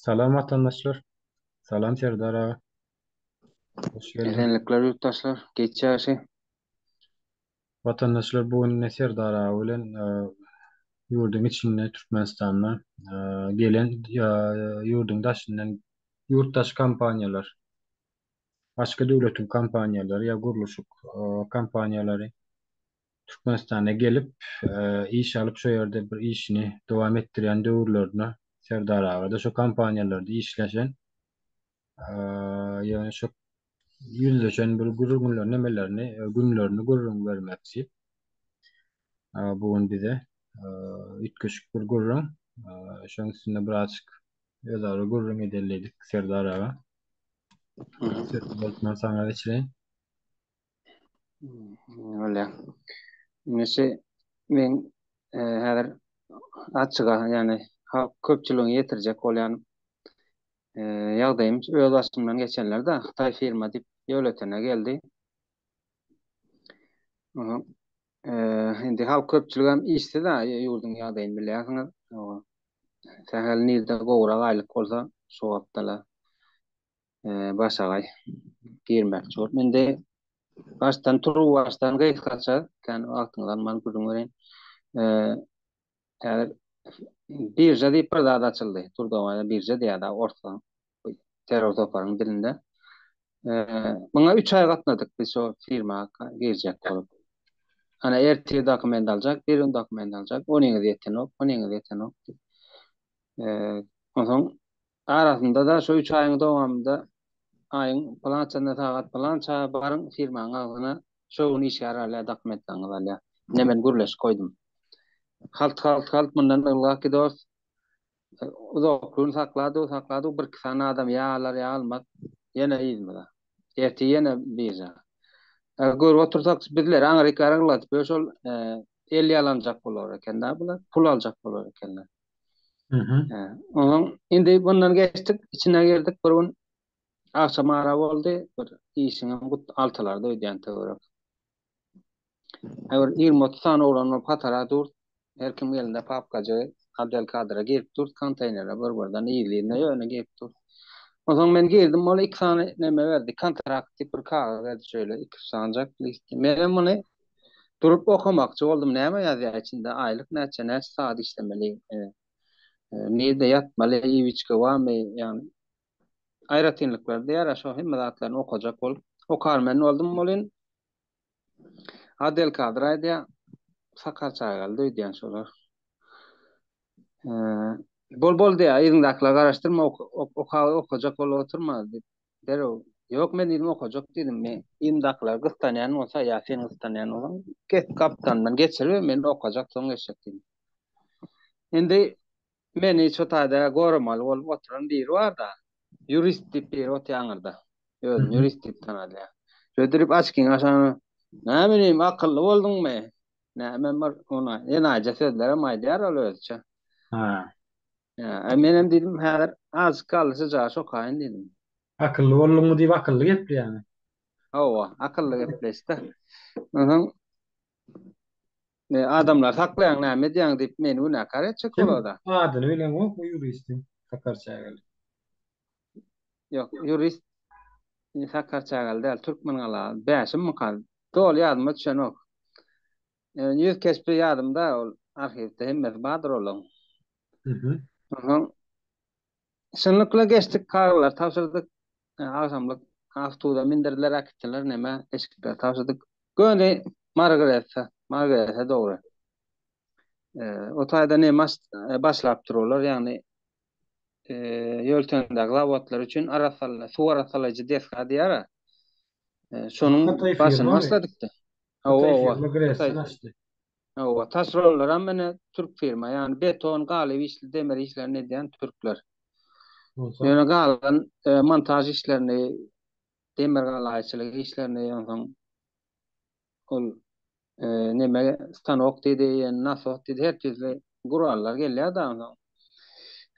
Salam watandaşlar. Salam Serdar aga. Hoş geldiň. Esenlikler ýurtdaşlar. Geç ýagşy. Watandaşlar bu gün ne Serdar aga bilen ýurduň içinde Türkmenistanda gelen ýurduň daşyndan ýurt daş kompaniýalar başga döwletiň kompaniýalary ýa gurluşyk kompaniýalary Türkmenistana gelip, iş alyp, şo ýerde bir işini dowam etdirýän döwürlerine Serdar aga-da şo kompaniýalarda işleşen. Ýöne şo ýüzleşen bir gürrüňlerini, nemelerini, günlerini gürrüň bermek diýip, bu gün bize üýtgeşik bir gürrüň. Şonuň üstünde birazajyk özara gürrüň edelidik, Serdar aga. Sözü bolsa, saňa geçireýin. Öyle. Nesi men e, häzir açyga yani halk köpçüligiň ýetirjek bolýan e, ýagdaýym öz başymdan geçenler de Hytaý firma diýip ýöletene geldi. Aha. E, indi halk köpçülik hem işsiz ha ýurduň ýagdaýyny bilýärsiňiz. Sähel nirde gowrak aýlyk bolsa şu wagtda başagaý girmekçi bolup indi başdan turup başdan gysgaça kan wagtyňyz alman gürrüň bereýin häzir birja diýip bir zat açyldy turdowaýda birja diýýärdi orsaň terror toparyň dilinde muňa üç aý gatnadyk biz şo firma girjek bolup ana ertir dokument aljak bir gün dokument aljak onyňyz ýetenok onyňyz ýetenok onsoň Arasynda-da şu üç aýyň dowamynda aýyň pylançasynda sagat pylança baryň firmaň agzyna şo gün işgär alýar dakym etseňiz alýar. Ine men gürleşip goýdum. Halt halt halt mundan ylgak gidos uzak gün sakladyk sakladyk bir iki sany adam ýa alar ýa almaz ýene yzymyza. Ertir ýene birža. Görüp otursak bizleri aňryk araňladyp ýöş ol el ýalanjak bolar ekenda bular pul aljak bolar ekenler. Onuň indi bundan geçdik, içine girdik bir gün. Agşam ara boldy, bir işiňem gut altylarda öýdýän töwerek. Häzir 20-30 sany oglan bolup hatara dur. Her kim elinde papkajy, Abdelkadire girip dur, konteýnere bir-birden yzly-yzyna ýöne girip dur. Onsoň men girdim, ol iki sany neme berdi, kontrakt diýip bir kagyz berdi şeýle iki-üç sanjak list. Menem muny Durup okamakçy boldum, näme ýazýar içinde, aýlyk näçe, näçe sagat işlemeli, nirde ýatmaly, iwiçka barmy, ýagny aýratynlyklary diýýärä şo hemme zatlaryny okajak bolup okarmen boldum welin Adelkadyr aýdýar, Sakar çagalydy öýdýän şolar. Bol-bol diýýär, yzyňdakylara garaşdyrma, okajak bolup oturma diýip, Derrew, Ýok, men ýüzümi okajak diýdim. Men ýyndakylary gyssanýan bolsa, ýa sen gyssanýan bolsaň, get gapdalymdan geçiriber, men okajak, soň geçjek diýdim. Indi meni şu taýda goramaly bolup oturan biri bar-da, ýurist diýip biri otýar aňyrda. Özüni ýurist diýip tanadýar. Şödürip açkyňy açanyň, Näme diýeyim, akylly bolduňmy? Näme bir ona, enaýyja sözlerem aýdýar ol özüçe. Ä, menem diýdim, häzir azjyk galdy syjaş okaýyn diýdim. Akylly bolduňmy diýip akylly gepleýäňmi? Hawa, akylly gepleýis-de. Onsoň adamlary saklaýaň näme edýäň diýip meni günäkär etjek bolada. Adyny bileňokmy ýuristiň Sakar Çägeli? Ýok, ýurist Sakar Çägeli däl, Türkmengala, Bäşimmika, doly ýadyma düşenok. Ýüz keşbi ýadymda ol arhiwde hemmesi bardyr olaň. Soň şunlukla geçdik kagyzlary tabşyrdyk. Agşamlyk awtubusa mindirdiler äkitdiler nämä eşikleri tabşyrdyk. Göni Margareta Margareta dogry. O taýda nem başlapdyr olar ýagny ýoltendäki zawodlar üçin arassalaýjy, suw arassalaýjy desga diýýär-ä. Şonuň başyny başladyk-da. Hawa, hawa. Hawa, taşeronlaram ine türk firma, ýagny beton, galyp işli, demir işlerini edýän türkler. Ýöne galan montaž işlerini, demirgalaýçylyk işlerini, onsoň Ol neme stanok diýdi, ýene nasos diýdi, her tizli gurallar gelýär dagyň soň.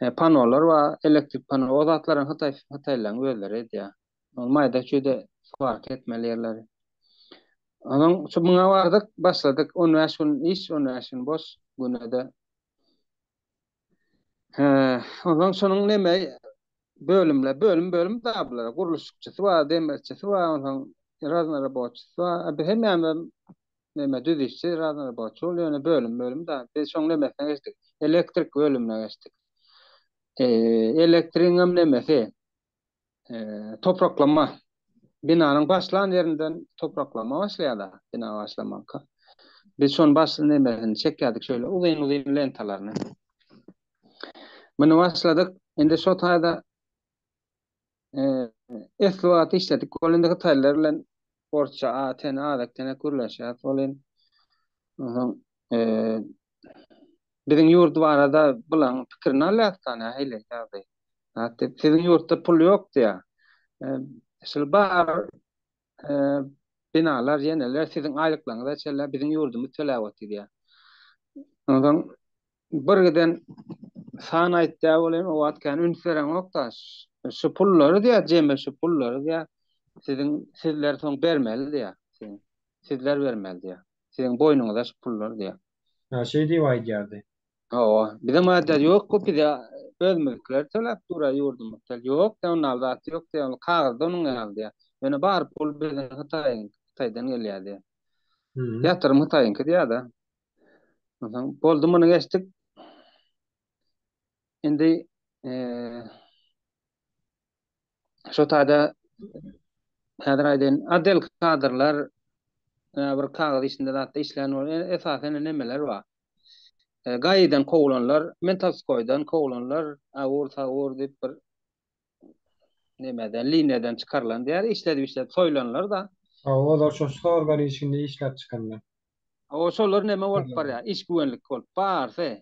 He, panolar bar, elektrik pano, o zatlar hem hytaý, hytaýlaryň özleri edýär. Ol maýda-çüýde swarka etmeli ýerleri. Onuň şu muňa bardyk, başladyk, on bäş gün iş, on bäş gün boş, güne-de Onsoň şonuň neme bölümler, bölüm-bölüm da bular. Gurluşykçysy bar, demirçisi bar, onsoň raznoroboçysy bar. Biz hemmämiz neme düzüşçi, raznoroboçy bolup, ýöne bölüm-bölüm da. Biz şoň nemesine geçdik, elektrik bölümine geçdik. Elektrigiň hem nemesi, topraklama binanyň başlan ýerinden topraklama başlaýar-da, bina başlamanka. Biz şony başly nemesini çekýärdik şöyle uzyn-uzyn lentalaryny. Muny başladyk. Indi şu taýda esli wagt işledik. Ol indi hytaýlar bilen sportça a ten azek tenek gürleşýär solin onsoň biziň ýurt barada bulaň pikirini alýas da nähili ýagdaý zat diýip siziň ýurtda pul ýok diýä şul bar binalar ýeneler siziň aýlyklaryňyza çenli biziň ýurdumyz töläp otyr diýä onsoň Bir giden san aýtýa ol hem owat kän üns bereňokda şu pullary diýýä jemi şu pullary diýýä siziň sizler soň bermeli diýýä siziň sizler bermeli diýýä siziň boýnuňyza şu pullar diýýä. Hä şeý diýip aýdýardy. Hawa bizem aýdýar ýok bu bize özümizdikiler töläp durýa ýurdumyz tel ýok diýýä onal zat ýok diýýä ol kagyzda onuň ýaly diýýä ýöne bar pul biziň hytaýyň hytaýdan gelýä diýýä ýatyrym hytaýyňky diýýä-de. Onsoň boldy muny geçdik. Indi eee şu taýda häzir aýdaýyn, adel kadrlar bir kagyz işinde zatda işlän bolýar. Esasen nemeler bar? E, Gaýydan kowulanlar, Mentalskoýdan kowulanlar, awur-sawur diýip bir nemeden liniýadan çykarylan diýýär işledi işledi soýlanlar da. Hawa olar şo sorgan işinde işläp çykanlar. Hawa şolar neme bolup barýar iş güwenlik bolup barsy.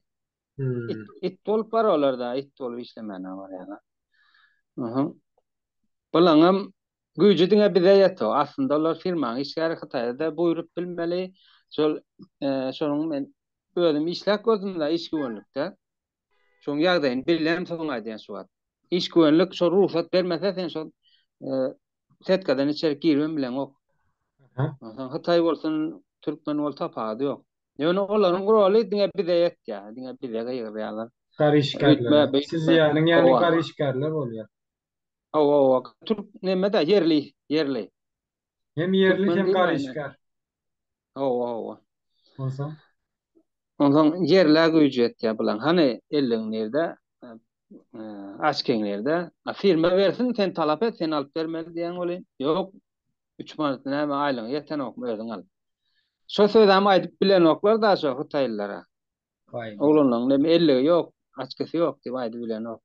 It it bolup bar olar da it bolup işlemänä barýarlar. Uhum. Bulaňam güýji diňe bize ýeto aslynda olar firmaň işgäri hytaýda buýrup bilmeli şol şonuň men özüm işläp gördüm da iş güwenlikde. Şoň ýagdaýyny bilýän soň aýdýan şu wagt. Iş güwenlik şo rugsat bermese sen şol setkadan içerik girmem bileňok. Onsoň hytaý bolsun, türkmen bol tapawudy ýok. Ýöne olaryň roly diňe bize ýetýär, diňe bize gygyrýarlar. Garyşgärler. Siz ýalyň ýaly garyşgärler bolýar. Hawa, türk neme-de ýerli, ýerli. Hem ýerli Türkmen hem diýilmändir. garyşgär. Hawa, hawa. Onsoň Onsoň ýerlä güýji ýetýär bulaň. Hany elligiň nirde? Eee, açkiň nirde? A firma bersin, sen talap et, sen alyp bermeli diýýän welin, ýok, üç manat näme aýlygyňa ýetenokmy, özüň al. Şo sözem aýdyp bilenoklar daşo hytaýlylara. Baý. Oglanlaryň näme elligi ýok, açkysy ýok diýip aýdybilenok.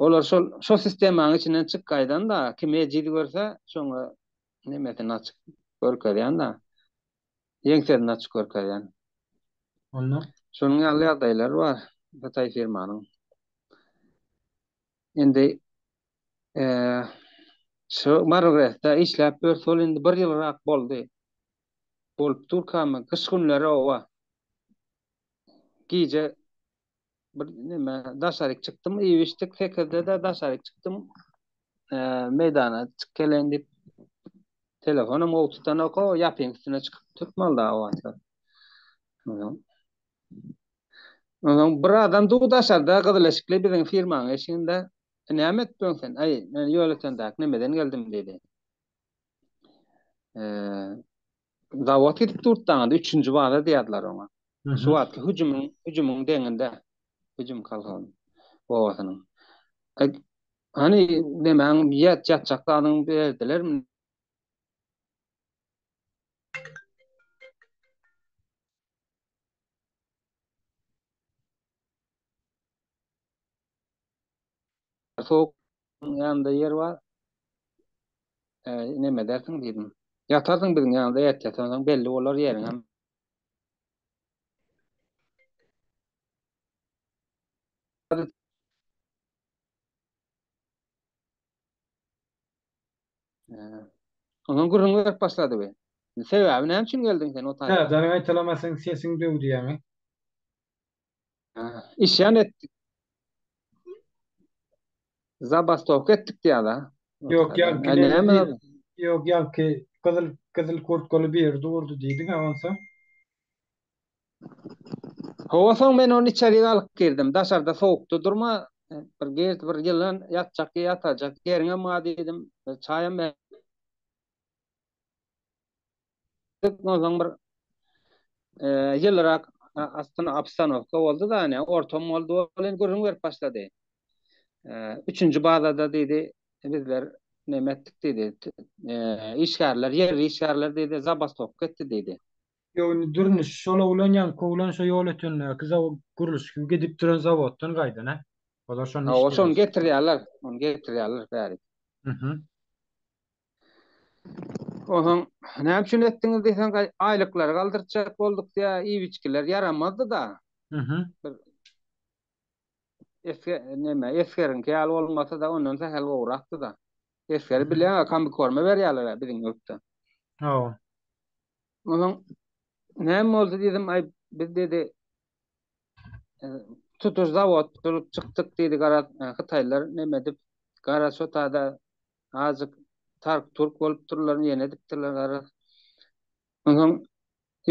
Olar şol şo sistemaň içinden çykgaýdanda kim ejiz görse şoňa nemesini açyk görkezýända ýeňsesini açyk görkezýän. Onda şonuň ýaly ýagdaýlar bar hytaý firmanyň. Indi şo Marlresde işläp ýör şol indi bir ýylrak boldy. Bolup durkamy gyş günleri oba gije bir näme daşaryk çykdym iýmişdik sekizde de daşaryk çykdym meýdana çyk gelen diýip telefonum gowy tutanok o ýapyň üstüne çykyp tutmalda o wagtda Ondan bir adam dur daşarda gyzyl eşikli biziň firmanyň eşiginde näme edip ýörüň sen? Aý, men ýol ötendäki nämeden geldim diýdi. Zawod gidip durtdanda üçünji baza diýýärdiler oňa. Şu wagtky hüjümiň hüjümiň deňinde hüjüm kolhozynyň obasynyň. Hany nemäň ýat ýatjak zadyňy berdilermi? Sowuk biziň ýanymda ýer bar. Näme edersiň diýdim. Ýatarsyň biziň ýanymda ertir soň belli bolar ýeriňem. Ondan gürrüň berip başlady we Sebäbi näme üçin geldiň sen o taýdan? Hä, janyň gaýtalamasyň sesiň döwdi ýaňy. Isyan ettik. Zabastowka etdik diýýärler. Ýok, ýaňky näme? Ýok, ýaňky gyzyl gyzyl kurtkaly bir ýerde durdy diýdiň-ä onsoň. Hawa, soň men ony içerik alyp girdim. Daşarda sowukda durma, bir gir, bir ýylan ýatjak ýatajak ýeriňem bar diýdim. Çaýam ber. Ondan bir ýylyrak aslynda obstanowka boldy da, ine ortam boldy, ol indi gürrüň berip başlady. Üçünji bazada diýdi, bizler näme etdik diýdi, işgärler, ýerli işgärler diýdi, zabastowka etdi diýdi. Ýok, indi Dürnüş şol oglan ýaňky oglan şo ýol ötendäki zawod gurluşygy gidip duran zawoddan gaýdan-a. Olar şonda işleýär. Hawa, şony getirýärler, ony getirýärler bärik. Onsoň näme üçin etdiňiz diýseň, aýlyklary galdyrtjak bolduk diýýä, iýip-içgiler ýaramazdy-da. Mhm. Bir esge, näme, esgeriňki ýaly bolmasa-da, ondan sähel gowrakdy-da. Esgeri bilýäň-a, kombikorma berýärler-ä biziň ýurtda. Hawa. Onsoň näme boldy diýdim, aý, biz dedi, tutuş zawod bolup çykdyk diýdi gara e, hytaýlar neme edip gara şotada azık tark turk bolup durlar ýene edipdirler gara onsoň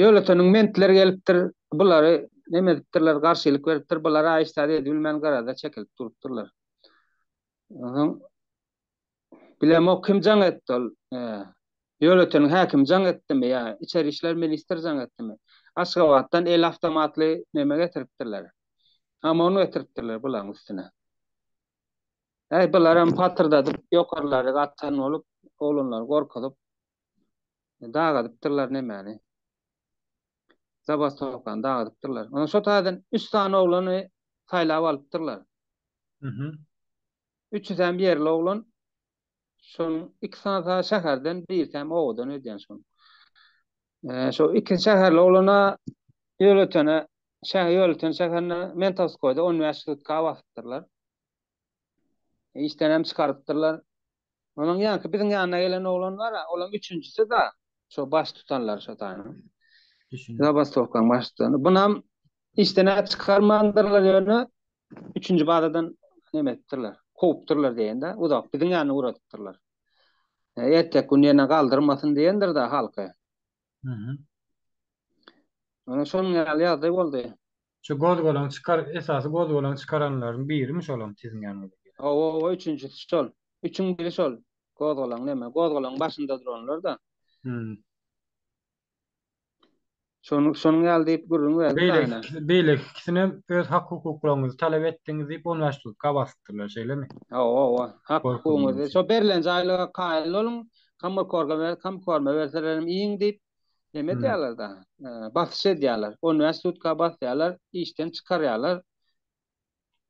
ýöleteniň mentler gelipdir bulary neme edipdirler garşylyk beripdir bular aýyşsady edip bilmän garada çekilip durupdyrlar onsoň Bilemok kim jaň etdi ol Ýöleteniň häkimi jaň etdimi ýa içeri işler ministri jaň etdimi. Aşgabatdan el awtomatly neme getiripdirler. Amon getiripdirler bulaň üstüne. Äý bularam patyrdadyp ýokarlary atan bolup oglanlary gorkuzyp dagadypdyrlar nemäni. Zabastowkany dagadypdyrlar. Şo taýdan üç sany oglany saýlap alypdyrlar. Üçüsem ýerli oglan. Şonuň ikisasa şäherden, birisem obadan öýdýän şonuň. Şo iki şäherli oglana ýöretene şähe ýöreten şäherine Mentovskoýda on bäş sutka basypdyrlar. Işdenem çykarypdyrlar. Onuň ýanky biziň ýanyna gelen oglan bar-a, olam üçünjisi-da, şo baş tutanlar şo taýynyň. Zabastowkaň baş tutany. Bunam işden-ä çykarmandyrlar ýöne Üçünji bazadan näme etdirler? Kowupdyrlar diýende, uzak biziň ýanyna ugradypdyrlar. Erteki gün ýene galdyrmasyn diýendir-de halky. Mhm. Ýöne şonuň ýaly ýagdaý boldy. Şu gozgalaň çykar, esasy gozgalaň çykaranlaryň birimi şolam siziň ýanyňyza gelen? Hawa-hawa, üçünjisi şol. Üçüň biri şol. Gozgalaň näme, gozgalaň başynda duranlar-da. Mhm. Şonuň şonuň ýaly diýip gürrüň berdi. Beýleki ikisi, beýleki ikisinem öz hak-hukuklaryňyzy talap etdiňiz diýip on bäş tutka basypdyrlar, şeýlemi? Hawa, hawa. Hak-hukugyňyzy, şo berlen jaýlyga kaýyl boluň, kammarkorga ber, kamkorma berselerem iýiň diýip, neme edýärler-de, basyş edýärler. On bäş tutka basýarlar, işden çykarýarlar.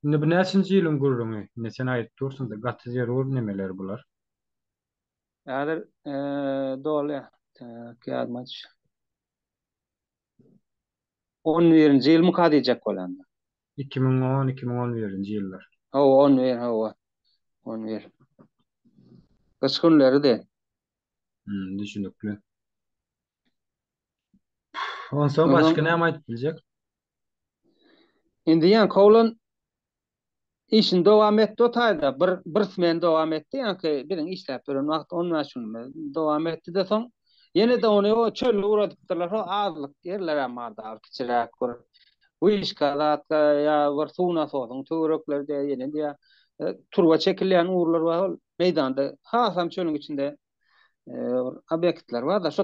Indi bu näçinji ýylyň gürrüňi? Indi sen aýdyp dursuň-da, gaty zerur nemeler bular. Häzir doly kýadmaç. On birinji ýyl myka diýjek bolanda. Iki müň on, iki müň on birinji ýyllar. Hawa, on bir, hawa. On bir. Gyş günleridi. Hüm, düşünikli. Onsoň başga näme aýdyp biljek? Indi ýaňky oglan Işini dowam etdi o taýda bir bir smen dowam etdi ýaňky biziň işläp ýören wagt on bäş günümiz dowam etdi-de soň ýene-de ony o çölle ugradypdyrlar şo azlyk ýerlerem bar dagy kiçiräk bir wyşka zatda ýa bir suw nasosyň töwerekleri diýä ýene diýä turba çekilýän ugurlar bar ol meýdanda hasam çölüň içinde bir obýektler bar-da şo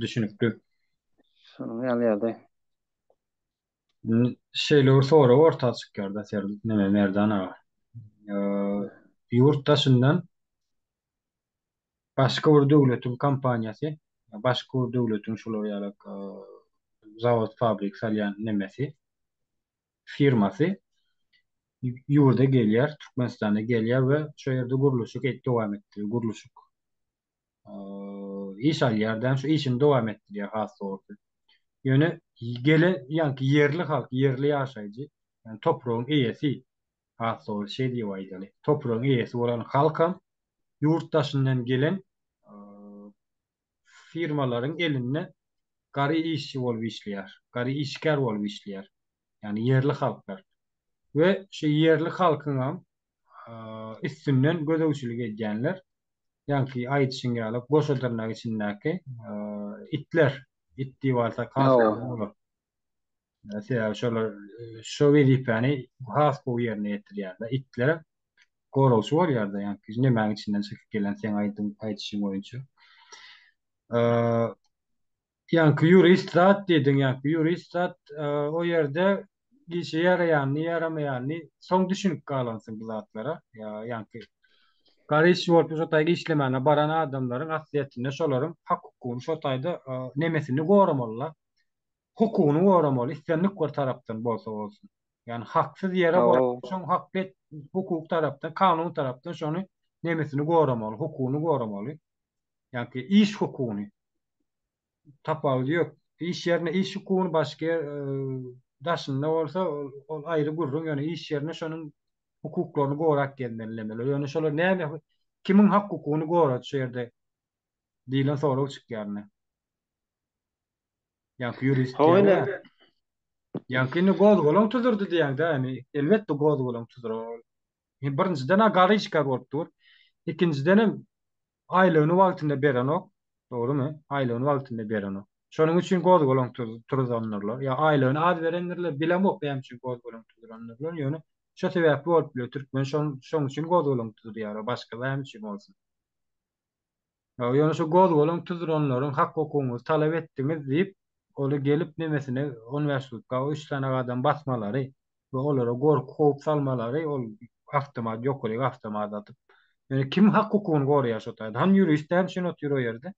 Düşünikli. Şonuň ýaly ýa-da. Şeýle bir sorag orta çykýar-da ser neme Merdan aga. Ýurt daşyndan başga bir döwletiň kompaniýasy, başga bir döwletiň şular ýaly zawod, fabrik salýan nemesi, firmasy ýurda gelýär, Türkmenistana gelýär we şo ýerde gurluşyk dowam etdirýär, gurluşyk. iş alýar da, şu işini dowam etdirýär has dogrusy. Ýöne gelen ýaňky ýerli halk, ýerli ýaşaýjy, ýani topragyň eýesi, has dogrusy şeý diýip aýdaly, topragyň eýesi bolan halkam ýurt daşyndan gelen firmalaryň elinde gary işçi bolup işleýär, gary işgär bolup işleýär, ýani ýerli halklar. We şu ýerli halkyňam üstünden gözegçilik edýänler, ýaňky aýdyşyň ýaly goşa dyrnak içindäki itler, it diýip alsak has gowy bolar. Sebäbi şolar şu wezipäni has gowy ýerine ýetirýärler. Itler goragçy bolýar-da, ýaňky nemäň içinden çykyp gelen seň aýdyşyň boýunça. Ýaňky ýurist zat diýdiň, ýaňky ýurist zat o ýerde işe ýaraýanyny, ýaramaýanyny soň düşünip galansyň bu zatlara. Ýaňky gara işçi bolup şo taýda işlemäne baran adamlaryň aslyýetinde şolaryň hak-hukugyny şo taýda nemesini goramaly-la. Hukugyny goramaly, islendik bir tarapdan bolsa bolsun. Ýagny haksyz ýere şoň hakly hukuk tarapdan, kanun tarapdan şony nemesini goramaly, hukugyny goramaly. Ýaňky iş hukugyny. tapawudy ýok. Iş ýerinde iş hukugyny başga ýer daşynda bolsa ol aýry gürrüň, ýöne iş ýerinde şonuň hukuklaryny gorap gezmelidirler. Ýöne şolar näme kimiň hak hukugyny gorady şu ýerde diýlen sorag çykýar indi. Ýaňky ýurist diýýär. Ýaňky indi gozgalaň tuzurdy diýýäňdä, indi elbetde gozgalaň tuzur. Birinjiden-ä garyşka bolup dur. Ikinjiden hem Aýlygyny wagtynda berenok, dogrumy? Aýlygyny wagtynda berenok. Şonuň üçin gozgalaň turzandyrlar. Ýa aýlygyny az berendirler, bilemok näme üçin gozgalaň turzandyrlar, ýöne şo sebäpli bolup biler, türkmen şonuň üçin gozgalaň tuzurýar, başga näme üçin bolsun. Ýöne şo gozgalaň tuzuranlaryň hak-hukugyňyzy talap etdiňiz diýip, ol gelip nemesine on bäş sutka üç sany adam basmalary, we olara gorky howp salmalary ol awtomat ýokaryk awtomat atyp ýöne kim hak hukugyny goraýar şo taýda hany ýurist näme üçin otyr o ýerde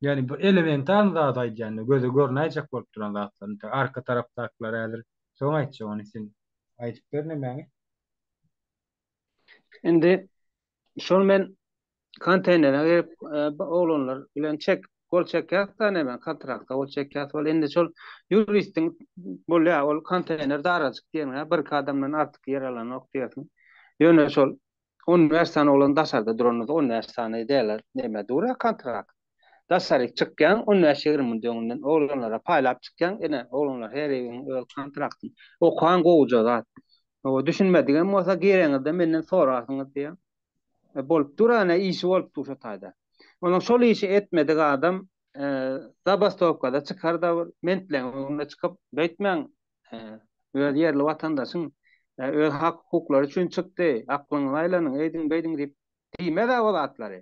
ýani bir elementarny zat aýdýanda göze görnäýjek bolup duran zatlar nte arka tarapdakylar häzir soň aýtjak ony sen aýdyp bernemäňi. Indi şony men Konteýnere girip, oglanlar bilen çek, gol çekýäs da näme, kontraktda gol çekýäs. Ol indi şol ýuristiň bolýar, ol konteýner darajyk diýeniň-ä, birki adamdan artyk ýer alanok diýersiň. Ýöne şol on bäş sany oglan daşarda duranymyz, on bäş sany dälä näme dur-a kontrakt. Daşaryk çykýaň, on bäş-ýigrimi minut öňünden oglanlara paýlap çykýaň, ine, oglanlar her eýgiň öz kontrakty. Okan gowuja zat. Düşünmedigem bolsa gireňizde menden sorarsyňyz diýýär. bolup dur ene işi bolup dur şo taýda. Ondan şol işi etmedik adam zabastowkada çykar da bir mentleň öňüne çykyp beýtmäň öz ýerli watandaşyň öz hak hukuklary üçin çykdy aklyňyzy aýlanyň eýdiň beýdiň diýip diýmez a o zatlary.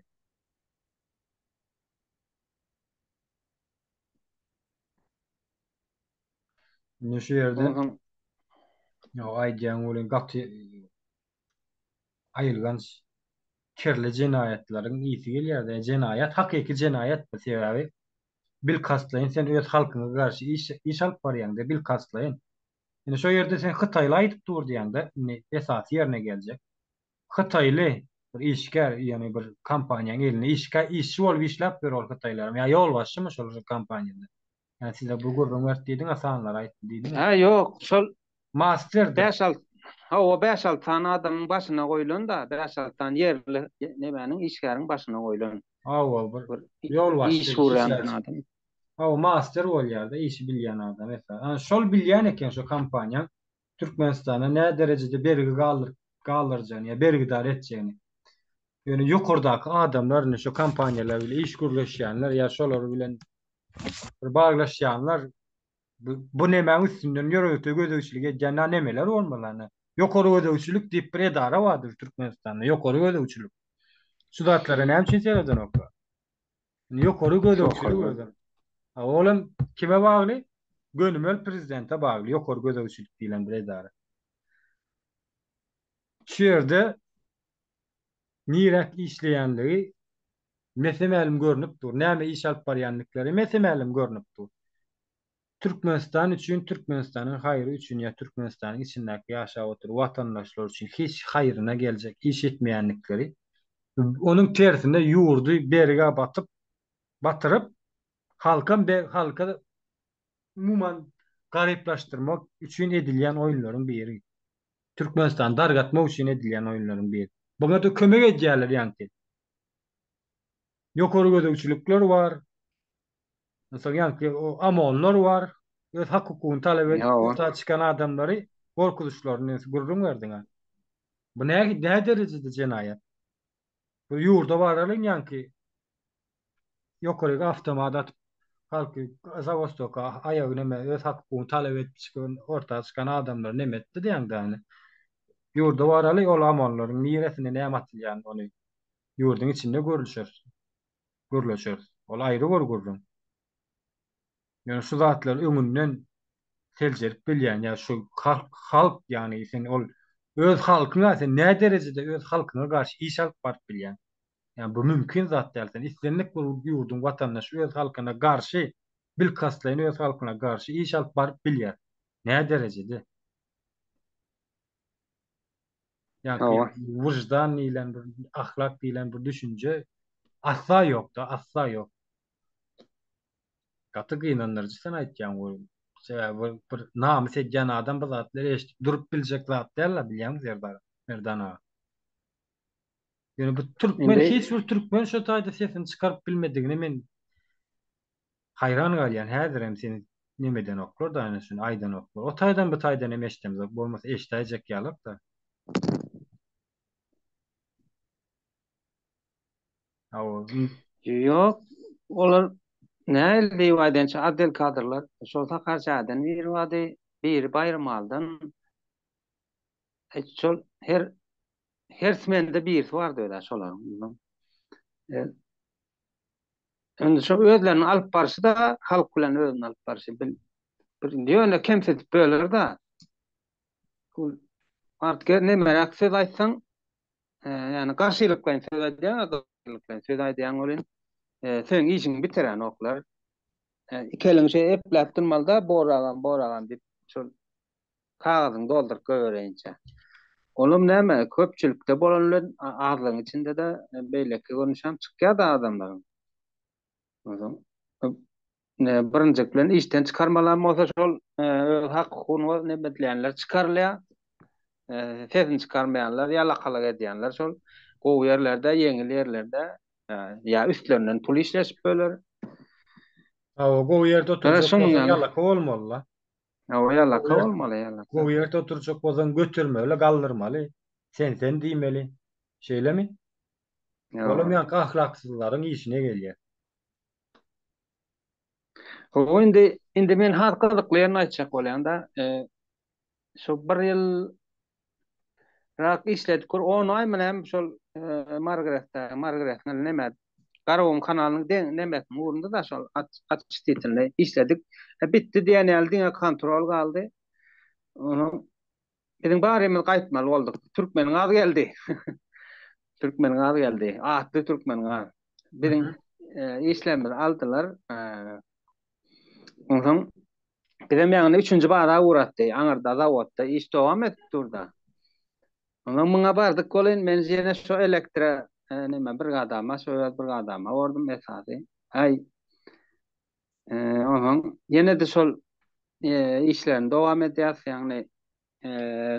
Indi şu ýerde ýok aýdýaň welin gaty aýylganç kirli jenaýatlaryň ysy gelýärdi. Ýa jenaýat hakyky jenaýatdy, sebäbi bilkastlaýyn sen öz halkyňa garşy iş iş alyp barýaňda bilkastlaýyn. Indi şo ýerde sen hytaýly aýdyp dur diýýäňde, indi esasy ýerine geljek. Hytaýly bir işgär, ýagny bir kompaniýanyň elinde işgär, işçi bolup işläpdir ol hytaýlaram ýa ýolbaşçymy şol kompaniýada. Hä size bu gürrüň berdi diýdiň a sanlary aýtdy diýdiň. Hä ýok şol Master dur. Bäş alt Hawa bäş alty sany adamyň başyna goýlan da bäş alty sany ýerli nemäniň işgäriň başyna goýlan. Hawa bir ýolbaşçy iş gurýan adam. Hawa master bolýar da işi bilýän adam esasy. Şol bilýän eken şo kompaniýaň Türkmenistana nä derejede bergi galdyryp galdyrjagyny ýa bergidar etjegini ýöne ýokardaky adamlar indi şu kompaniýalar bilen iş gürleşýänler ýa şolar bilen bir baglaşýanlar bu nemäň üstünden ýörite gözegçilik edýän na nemeler bolmaly na ýokary gözegçilik diýip bir edara bardyr Türkmenistanda ýokary gözegçilik şu zatlara näme üçin seredenoklar. Indi ýokary gözegçilik özem. A ol hem kime bagly? Gönümel prezidente bagly ýokary gözegçilik diýlen bir edara. Şu ýerde niräk işleýänligi mese-mälim görnüp dur. Näme iş alyp barýandyklary mese-mälim görnüp dur. Türkmenistan üçin, Türkmenistanyň haýry üçin ýa Türkmenistanyň içindäki ýaşap oturan watandaşlar üçin hiç haýryna geljek iş etmeýändikleri, onuň tersine ýurdy berge batyp, batyryp, halkam be, halka umuman garyplaşdyrmak üçin edilýän oýunlaryň biri. Türkmenistany dargatmak üçin edilýän oýunlaryň biri. Buňa-da kömek edýärler ýaňky ýokary gözegçilikler bar, Mysal ýaňky o amonlar bar, öz hak-hukugyny talap edip, ýurtdan çykan adamlary gorkuzyşlaryny gürrüň berdiňa. Bu nä derejede jenaýat? Bu ýurda baralyň ýaňky ýokaryk awtomat atyp, halky zawostoka aýagy näme öz hak-hukugyny talap edip çykan, orta çykan adamlary näme etdi diýäň däne. Ýurda baraly ol amonlaryň niresine näme atylýan ony ýurduň içinde görüşeris. gürleşeris. Ol aýry bir gürrüň. Ýöne şu zatlary öňünden seljerip bilýän ýa şu halk, halk ýagny sen ol öz halkyňa sen nä derejede öz halkyňa garşy iş alyp baryp bilýäň? Ýa bu mümkin zat däl. Sen islendik bir ýurduň watandaşy öz halkyna garşy, bilkastlaýyn öz halkyna garşy iş alyp baryp bilýär. Nä derejede? Ýa-da wyždan diýlen bir ahlak diýlen bir düşünje asla ýokda, asla ýok. Gaty gynandyryjy sen aýtýan bu. Sebäbi bir namys edýän adam bu zatlary eşidip durup biljek zat däl-le bilýäňmi Serdar, Merdan aga. Ýöne bu türkmen hiç bir türkmen şu taýda sesini çykaryp bilmedigine men Haýran galýan häzirem seni nemedenoklar da ana şuny aýdanoklar o taýdan bu taýdan hem eşdemzok bolmasa eşdäýjek ýalakda. Awa. Ýok olar nähili diýip aýdaýynça atdel kadrlar şol sakarçaýdan biri bardy biri baýrmaldan şol her her smende birisi bardy özä şolaryň Indi şo özleriniň alyp barşy-da halk bilen özüniň alyp barşy bil, bir ýöne kemsidip böler-de. Ol artge nemeräk söz aýtsaň, ýa-ni garşylyklaýyn söz aýdýaň-a, garşylyklaýyn söz aýdýaň welin, seň işiňi bitirenoklar. Iki eliňi şeýle epläp durmaly-da, boragam, boragam diýip, şol kagyzyňy dolduryp goýbereýinçä. Olam näme, köpçülikde bolan bilen azlygyň içinde-de beýleki görnüşem çykýar-da adamlaryň. Onsoň birinjek bilen işden çykarmalam bolsa şol öz hak-hukugyny nebedleýänler çykarylýar. Sesini çykarmaýanlar, ýalakalyk edýänler şol gowy ýerlerde, ýeňil ýerlerde ýa üstlerinden pul işleşip böler. Hawa, gowy ýerde oturjak bolsa ýalaka bolmaly-la. Hawa ýalaka bolmaly ýalaka. Gowy ýerde oturjak bolsaň götermeli, galdyrmaly. Sen sen diýmeli. Şeýlemi? Olam ýaňky ahlaksyzlaryň işine gelýär. Hawa indi indi men has gyzykly ýerini aýtjak bolýan-da. Şu bir ýyl Rak işledik kur on ay mı nem şol margrette margrette neme Garawun kanalynyň deň nemesin ugrunda da şol açyş titinde işledik. E, bitdi diýen ýaly diňe kontrol galdy. Onuň biziň barymyz gaýtmaly bolduk. Türkmeniň az geldi. Türkmeniň az geldi. Atly Türkmeniň az. Biziň e, işlerimizi aldylar. E, Onsoň bizem ýaňyny üçünji baza ugratdy. Aňyrda zawodda iş dowam edip dur-da. Onsoň muňa bardyk welin, men ýene şo elektro näme brigadama, şo öz brigadama bordum esasy. Aý, onsoň ýene-de şol işlerini dowam edýäs, ýagny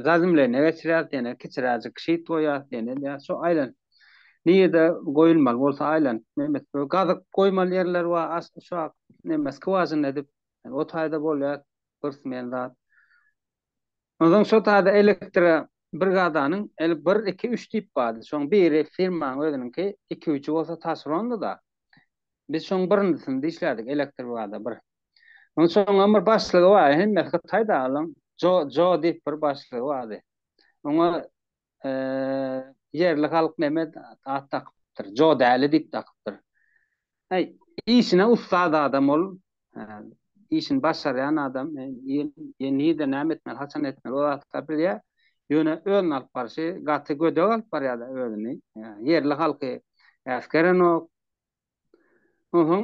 Zazimlerine geçirýäs, ýene kiçiräjik şyt goýýas, ýene edýäs. Şo aýlanyp nirede goýulmaly bolsa aýlanyp nemes bu gazyk goýmaly ýerler bar, aşk uşak, nemes skwažina edip o taýda bolýar gysmyn zat. Onsoň şo taýda elektro brigadanyň eli bir, iki, üç diýip bardy. Şoň biri firmaň özüniňki, iki-üçi bolsa taşerondy-da. Biz şoň birinjisinde işlädik, elektrobrigada bir. Ondan soň oňa bir başlygy bar, hemme Hytaý dagylaryň Jo Jo diýip bir başlygy bardy. Oňa ýerli halk neme at dakypdyr, Jo däli diýip dakypdyr. Aý, işine ussat adam ol, işini başarýan adam, nirde näme etmeli, haçan etmeli, ol zatlary bilýär. Ýöne özüni alyp barşy gaty gödek alyp barýar-da özüni. Ýerli halky äsgerenok. Onsoň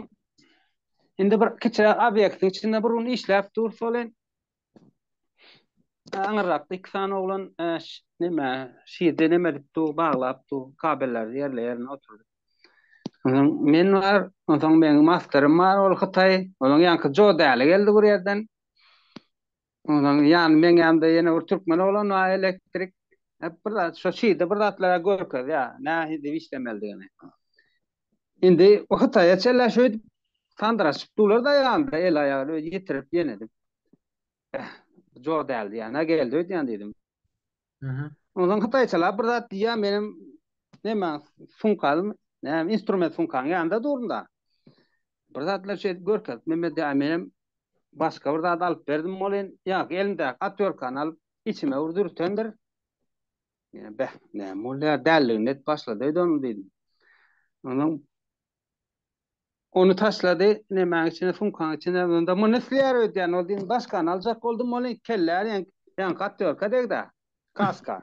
indi bir kiçiräk obýektiň içinde bir gün işläp dur solen. Aňyrrakda iki sany oglan näme şirde näme edip dur, baglap dur, kabelleri ýerle ýerine oturdy. Onsoň men bar, onsoň meniň masterym bar, ol Hytaý, onuň ýanky Joe däli geldi bir ýerden. Ondan ýan meňemde ýene bir türkmen oglan bar elektrik. Hep bir zat şu şeýde bir zatlara görkezýär. Nähili diýip işlemelidigini. Indi o Hytaýa çenli şeýdip sandyraşyp durlar-da ýanda el aýagyny öýe ýetirip ýenedip. Eh, joda diýýän-ä geldi öýdýän diýdim. Ondan hytaýçalap bir zat diýýär, menem näme sumkalym, näme instrument sumkaň ýanynda durdum-da. Bir zatlar şeýdip görkezip, Mehmet ýa menem başga bir zat alyp berdim welin, ýaňky elimdäki otwýorkany alyp, içime bir dürtendir. Beh, näme bolýar, dälligini edip başlady öýdeniň diýdim. Ondan Ony taşlady, nemäň içine, sumkaň içine, onda muny isleýär öýdýän, ol diýen başgany aljak boldum, ol iki kellä diýen, ýaňky aktýorka degdi-ä, kaska,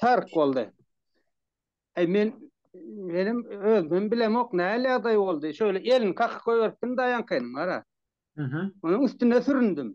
tyrk boldy. Äý, men, menem özümem bilemok, nähili ýagdaý boldy, şeýle elini kakyp goýberipdim-dä ýaňkynyň, gara. Onuň üstüne süründim.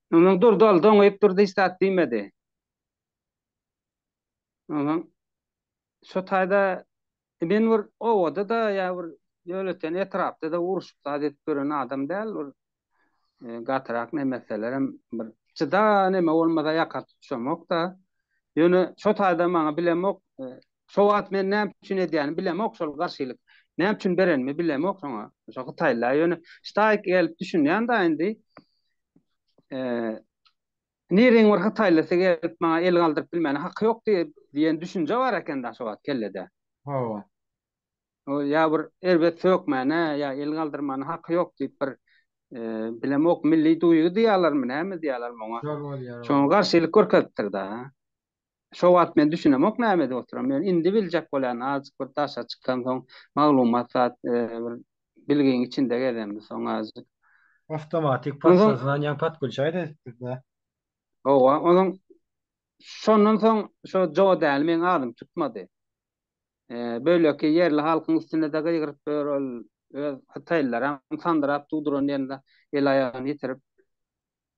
Onsoň durdy ol, doňýup durdy, hiç zat diýmedi. Onsoň şo taýda men bir obada-da ýa bir ýönekeý etrapda-da uruşyp zat edip ýören adam däl, bir gatyrak neme etselerem bir jyda neme bolmasa ýaka tutuşamok-da. Ýöne şo taýda maňa bilemok, şo wagt men näme üçin edýänim bilemok şol garşylyk. Näme üçin berenimi bilemok şoňa, şo hytaýlylara ýöne ştaýk gelip düşünýän-dä indi. eee, nireniň bir hytaýlysy gelip maňa el galdyryp bilmäne haky ýok diýip diýen düşünje bar eken-dä şo wagt kellede. Hawa. O ýa bir erbet sökmäne, ýa el galdyrmana haky ýok diýip bir eee, bilemok, milli duýgy diýýärlermi, näme diýýärlermi oňa? Şol bolýar. Şoňa garşylyk görkezipdir-dä. Şo wagt men düşünemok näme edip oturam. Ýöne indi biljek bolýan azjyk bir daşa çykansoň maglumat zat bir bilgiň içinde gezendi soň azjyk. Awtomatik pasportyna ýaňy patkul çaý da edipdirda. Howa onuň şondan soň şo Joe däli meň adym tutmady. Böleki ýerli halkyň üstünde de gygyryp ýör ol öz hytaýlylaram sandyrap dugduran ýerinde el aýagyny ýitirip.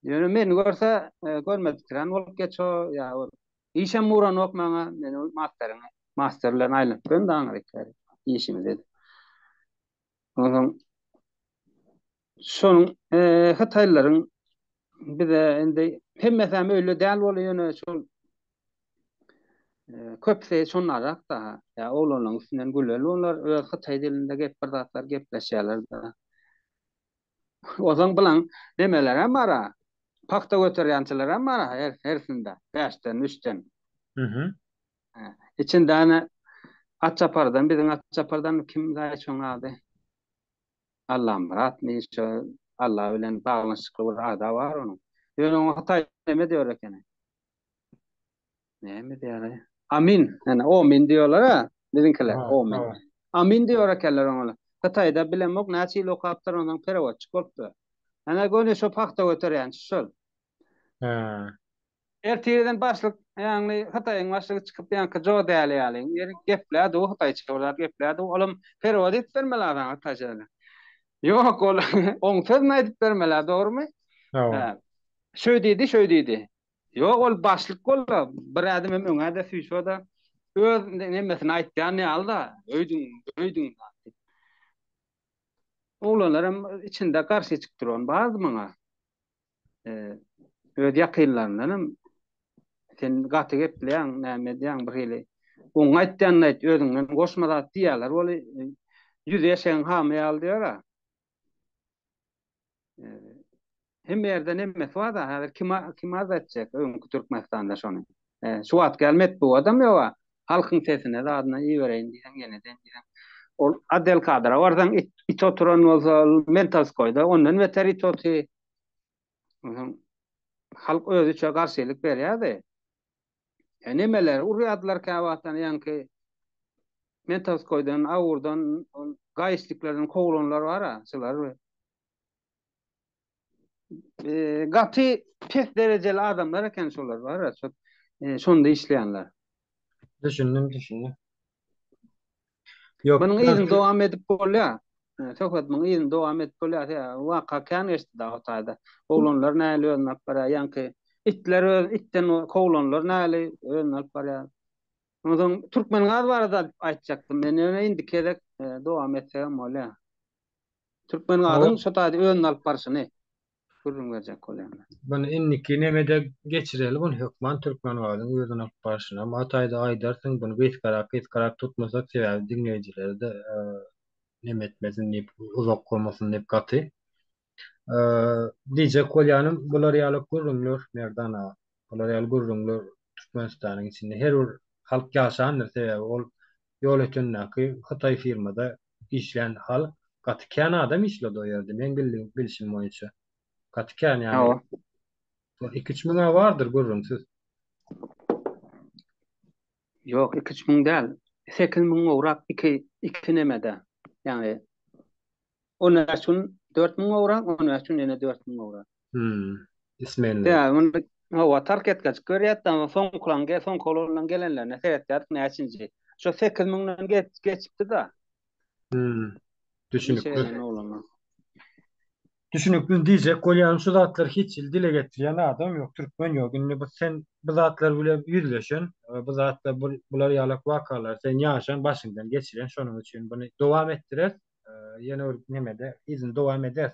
Ýöne meni görse, görmedikirän bolup geço, ýa ol işem uranok maňa, men ol masteryňy, master bilen aýlanyp bilen daňyr ekeri, işimizi edip. Onsoň şonuň hytaýlylaryň bize indi hemmesem öýle däl bolup ýöne şol köpüsi şonnarak-da, ýa oglanlaryň üstünden güleli olar öz hytaý dilinde gep bir zatlar gepleşýärler-de. Ozaň bilen nemelerem bar-a. Pagta göterýänçilerem bar-a hersinde, bäşden, üçden. Hä, içinde ene Atçapardan, biziň Atçapardan kim daýy şoň ady? Allamyratmy, şo Alla bilen baglanyşykly bir ada bar onuň. Ýöne oňa hytaý neme diýer ekeni? Näme diýýärler? Amin. Ýani omin diýýärler-a biziňkiler. Omin. Amin diýýär ekenler oňa. Hytaýda bilemok näçe ýyl okapdyr ondan perewodçik bolupdyr. Ýani göni şo pagta göterýänçi şol. Hä. Ertirden başlyk ýani Hytaýyň başlygy çykyp ýanky Jo Däli ýaly geplär du hytaýça olar geplär du olam perewod edip berme lazan hytaýça. Ýok ol oň sözüni aýdyp berme la dogrymy? Hä. Şöý diýdi şöý diýdi. Ýok, ol başlyk bolsa, bir ädim hem öňe-de süýse-de, öz nemesini aýtýan ýaly-da, öýdüň, öýdüň zat. Oglanlar hem içinde garşy çykyp duran bardy maňa. Öz ýakynlaryndan hem, Sen gaty gepleýäň, näme edýäň, birhili oňa aýtýanyny aýt, özüňden goşma zat diýýärler weli, ýüzi eşegiň hamy ýaly diýer-ä. Hem ýerde nemesi bar da, häzir kim kim az etjek öňki Türkmenistanda şony. Şu wagt gel metbu adam ýoga. Halkyň sesine zadyna ibereýin diýen ýene den diýen. Ol Adel Kadra barsaň it, it oturan bolsa mental skoýda ondan beter it oty. Halk özüçe garşylyk berýärdi. He nemeler urýardylar käwagtdan ýaňky Metaskoýdan, Awurdan, ol gaýyşliklerden kowlanlar bar-a, şular we gaty pes derejeli adamlar eken şolar bar-a, şonda işleýänler. Düşündim, düşündim. Ýok. Munuň yzyny dowam edip bolýar. Söhbet munuň yzyny dowam edip bolýar. Ýa waka kän geçdi dagy o taýda. Oglanlar näli özüni alyp barýar. Ýaňky itler öz itden kowlanlar näli özüni alyp barýar. Ondan soň Türkmengaz barada aýtjakdym men. Ýöne indiki gezek dowam etsegem bolýar. Türkmengazyň şo taýda özüni alyp barşyny. gürrüň berjek bolýan men. Muny indiki nemede geçireli muny hökman Türkmengazyň özüni alyp barşynam o taýda aýdarsyň buny gysgarak gysgarak tutmasak sebäbi diňleýjilerde neme etmesin diýip uzak gomasyn diýip gaty diýjek bolýanym bular ýaly gürrüňler Merdan aga. Bular ýaly gürrüňler Türkmenistanyň içinde her bir halk ýaşandyr, sebäbi ol ýol ötendäki hytaý firmada işlän halk gaty kän adam işledi o ýerde meň bildiğim bilşim boýunça gaty kän ýagny iki-üç müň-ä bardyr gürrüňsiz. Ýok iki üç müň däl sekiz müň gowrak iki iki nemede ýagny on bäş gün dört müň gowrak on bäş gün ýene dört müň gowrak. Hümm ismenli. Ýa muny howa tark etgejik görýäs da soňkulan ge soňky olanlaryň gelenlerine seretýäris näçinji şo sekiz müňden ge geçipdi da. Hümm düşünikli. Düşünikli diýjek bolýan şu zatlar hiç il dile getirýän adam ýok türkmen ýok indi bu sen bu zatlar bile ýüzleşen bu zatlar bu bular ýalak wakalar sen ýaşan başyňdan geçiren şonuň üçin buny dowam etdirer ýene bir nemede yzyny dowam eder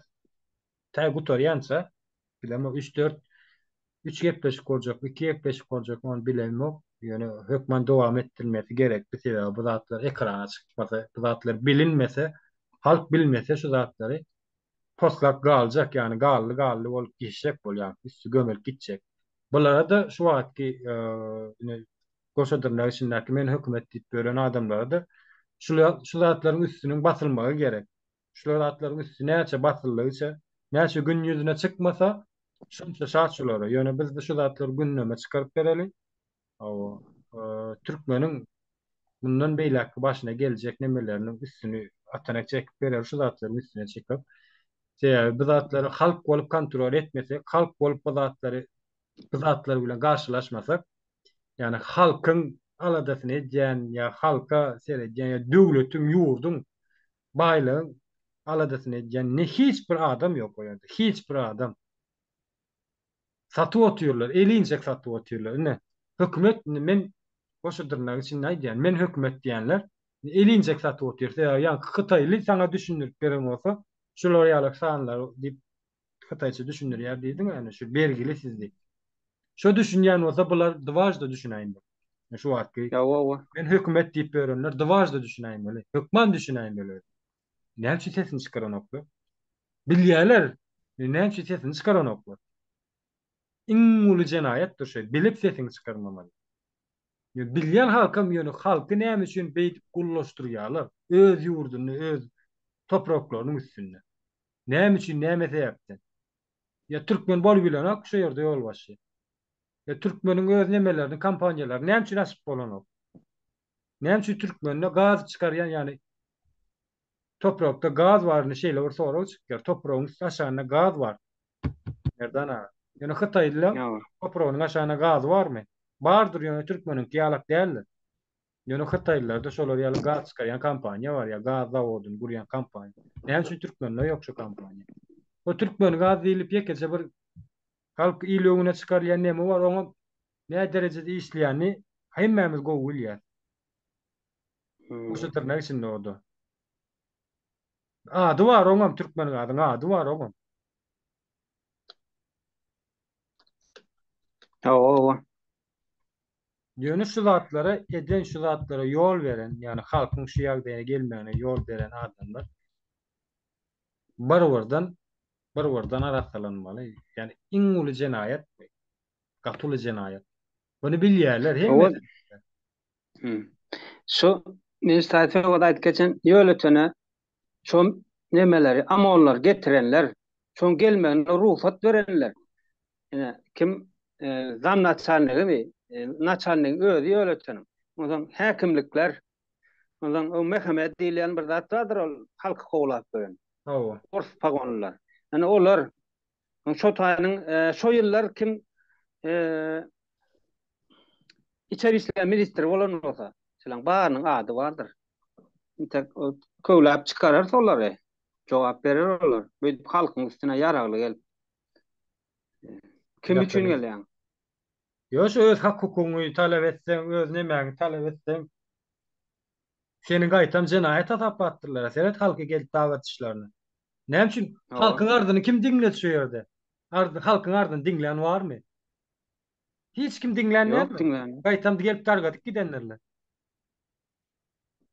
tä gutarýança bilemok üç dört üç gepleşik boljak iki gepleşik boljak ony bilemok ýöne hökman dowam etdirmesi gerekdi sebäbi bu zatlar ekrana çykmasa bu zatlar bilinmese halk bilmese şu zatlary poslap galjak, ýagny gally-gally bolup geçjek bolýar, üsti gömelip gitjek. Bulara-da şu wagtky ine goşa dyrnak içindäki men hökümet diýip ýören adamlara-da şu zatlaryň üstüniň basylmagy gerek. Şular zatlaryň üsti näçe basyldygyça, näçe gün ýüzüne çykmasa, şonça şat şulara. Ýöne biz şu zatlary gündeme çykaryp bereli. Hawa, türkmeniň mundan beýläkki başyna geljek nemeleriniň üstüni atanak çekip berer şu zatlaryň üstüne çykyp. Sebäbi bu zatlary halk bolup kontrol etmesek, halk bolup bu zatlary bu zatlar bilen garşylaşmasak, ýagny halkyň aladasyny edýän ýa halka seredýän ýa döwletiň, ýurduň, baýlygyň aladasyny edýän ne hiç bir adam ýok o ýerde, hiç bir adam. Satup otyrlar, eli injek satup otyrlar. Ine, hökümet, indi men goşa dyrnak içinde aýdýan, men hökümet diýenler eli injek satup otyrsa, ýa ýaňky hytaýly saňa düşündirip beren bolsa, şular ýalak sanlar diýip hytaýça düşündirýär diýdiň-ä, ine şu bergili siz diýip. Şo düşünýän bolsa, bular dwažda düşünäýmeli. Şu wagtky men hökümet diýip ýörenler dwažda düşünäýmeli, hökman düşünäýmeli. Näme üçin sesini çykaranoklar? Bilýärler, näme üçin sesini çykaranoklar? Iň uly jenaýatdyr şu, bilip sesiňi çykarmamaly. Bilýän halkam ýöne halky näme üçin beýdip gullaşdyrýarlar? Öz ýurdunda, öz topraklarynyň üstünde. Näme üçin, näme sebäpden? Ýa türkmen bolup bilenok şu ýerde ýolbaşçy? Ýa türkmeniň öz nemelerini, kompaniýalaryny näme üçin açyp bolanok? Näme üçin türkmende gaz çykarýan ýaly toprakda gaz baryny şeýle bir sorag çykýar. Topragyň üsti aşagynda gaz bar. Merdan aga. Ýöne hytaýlylaň topragynyň aşagynda gazy barmy? Bardyr ýöne türkmeniňki ýalak däldir. Ýöne hytaýlylarda şolar ýaly gaz çykarýan kompaniýa bar ýa gaz zawodyny gurýan kompaniýa. Näme üçin türkmende ýok şu kompaniýa? Bu türkmen gaz diýlip ýekeje bir halk il öňüne çykarylýan neme bar oňam Nä derejede işleýänini hemmämiz gowy bilýäs. Goşa dyrnak içinde o-da. Ady bar oňam Türkmengazyň ady bar oňam. Hawa, hawa. Ýöne şu zatlara eden, şu zatlara ýol beren, ýagny halkyň şu ýagdaýa gelmegine ýol beren adamlar bir birden, bir birden arassalanmaly. Ýagny iň uly jenaýat bu. Gaty uly jenaýat. Muny bilýärler hemmesi. Şu Neji Taýfegoda aýdyp geçen ýöletene şo nemeleri, amonlary getirenler, şoň gelmegine rugsat berenler. Ine, kim zamnaçalnigimi, naçalnigiň özi ýöleteniň. Onsoň häkimlikler, onsoň o Mehemed diýilýän bir zat bardyr ol halky kowlap ýören. Hawa. Ors pagonlylar. Ine, olar Şo taýynyň şo ýyllar kim içeri işler ministri bolan bolsa, şolaryň barynyň ady bardyr. Intek köwläp çykarar solary. Jogap berer olar. Beýdip halkyň üstüne ýaragly gelip. Kim üçin gelýäň? Ýoş öz hak-hukugyňy talap etseň, öz nemäňi talap etseň, Seni gaýtam jenaýat hasap atdyrlara seret halky gelip dag atyşlaryna. Näme üçin halkyň arzyny kim diňledi şu ýerde? Arz halkyň arzyny diňlän barmy? Hiç kim diňlän dälmi? Gaýtam gelip dargadyp gidendirler.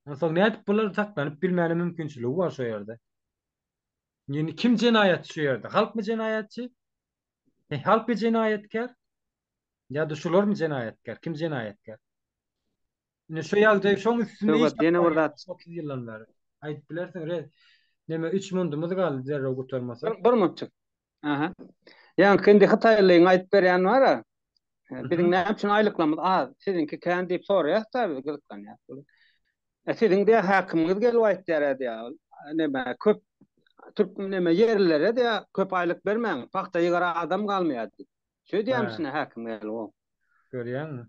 Onsoň nädip bular saklanyp bilmäne mümkinçiligi bar şu ýerde? Ýöne kim jenaýatçy şu ýerde? Halkmy jenaýatçy? He halkmy jenaýatkär? Ýa-da şularmy jenaýatkär? Kim jenaýatkär? Indi şu ýagdaý şoň üstünde iş Söwgat, ýene bir zat. tapmaýarys otuz ýyldan bäri. Aýdyp bilersiň, re, neme üç mundumyz galdy derrew gutarmasak. Bir, bir minutjyk. Aha. Ýaňky indi hytaýlyň aýdyp berýän bar-a, e, Biziň näme üçin aýlyklarymyz az, siziňki kän diýip soraýarys-da biz, gyzyklanýarys biz. E, siziň diýýär, häkimiňiz gelip aýtýar-a diýýär, e, neme, köp türk neme ýerlilere diýýär, köp aýlyk bermäň, pagta ýygara adam galmaýar diýip. Şeýdýärmiş Ha. ine häkim gelip o. Görýäňmi?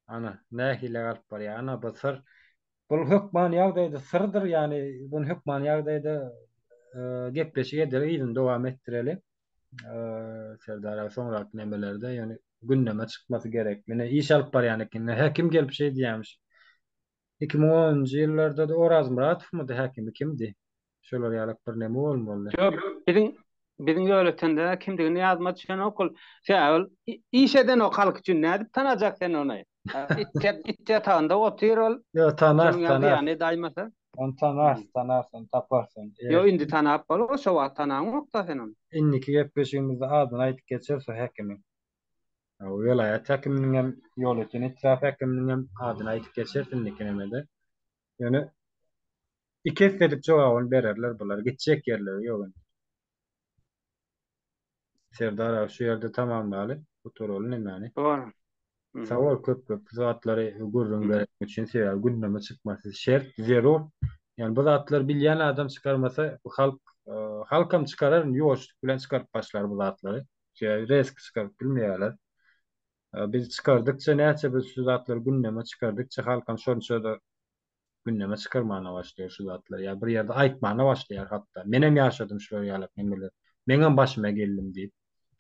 Ana, nähili galyp barýar. Ana, bu syr. Bul hökman ýagdaýda syrdyr, ýagny bunu hökman ýagdaýda gepleşik edeli, yzyny dowam etdireli. Serdar aga soňraky nemelerde ýöne gündeme çykmasy gerek. Menä iş alyp barýan ekenler. Häkim gelip şeý diýýämiş. Iki müň onunjy ýyllarda-da Orazmyratowmydy häkimi kimdi? şolar ýalak bir neme bolmaly. Ýok, biziň biziň ýöretende kimdigini ýadyma düşenok ol. Sebäbi ol iş edenok halk üçin nädip tanajak sen ony? It ýatagynda otyr ol. Ýok, tanar, tanar. Ony tanar, tanar, ony tapar sen. Ýok, indi tanap bolar, şo wagt tanaňok-da sen ony. Indiki gepleşigimizde adyny aýdyp geçeris o häkimiň. Welaýat häkiminiň hem, ýolöten etrap häkiminiň hem adyny aýdyp geçeris indiki nemede. Ýöne Iki esselik jogabyny bererler bular gitjek ýerleri ýok indi. Serdar aga şu ýerde tamamlaly bu turaly nämäni. Dogry. Sag bol köp köp bu zatlary gürrüň bereniň üçin sebäbi gündeme çykmasy şert zerur ýani bu zatlary bilýän adam çykarmasa bu halk halkam çykarar indi ýuwaşlyk bilen çykaryp başlar bu zatlary sebäbi rezki çykaryp bilmeýärler biz çykardykça näçe biz şu zatlary gündeme çykardykça halkam şonça-da gündeme çykarmana başlaýar şu zatlary ýa bir ýerde aýtmana başlaýar hatda menem ýaşadym şular ýaly hemmeler meňem başyma geldim diýip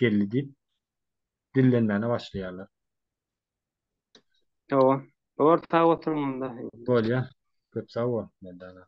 geldi diýip dillenmäne başlaýarlar. Hawa. Bor sag oturyň onda. Bolýa. Köp sag bol Merdana.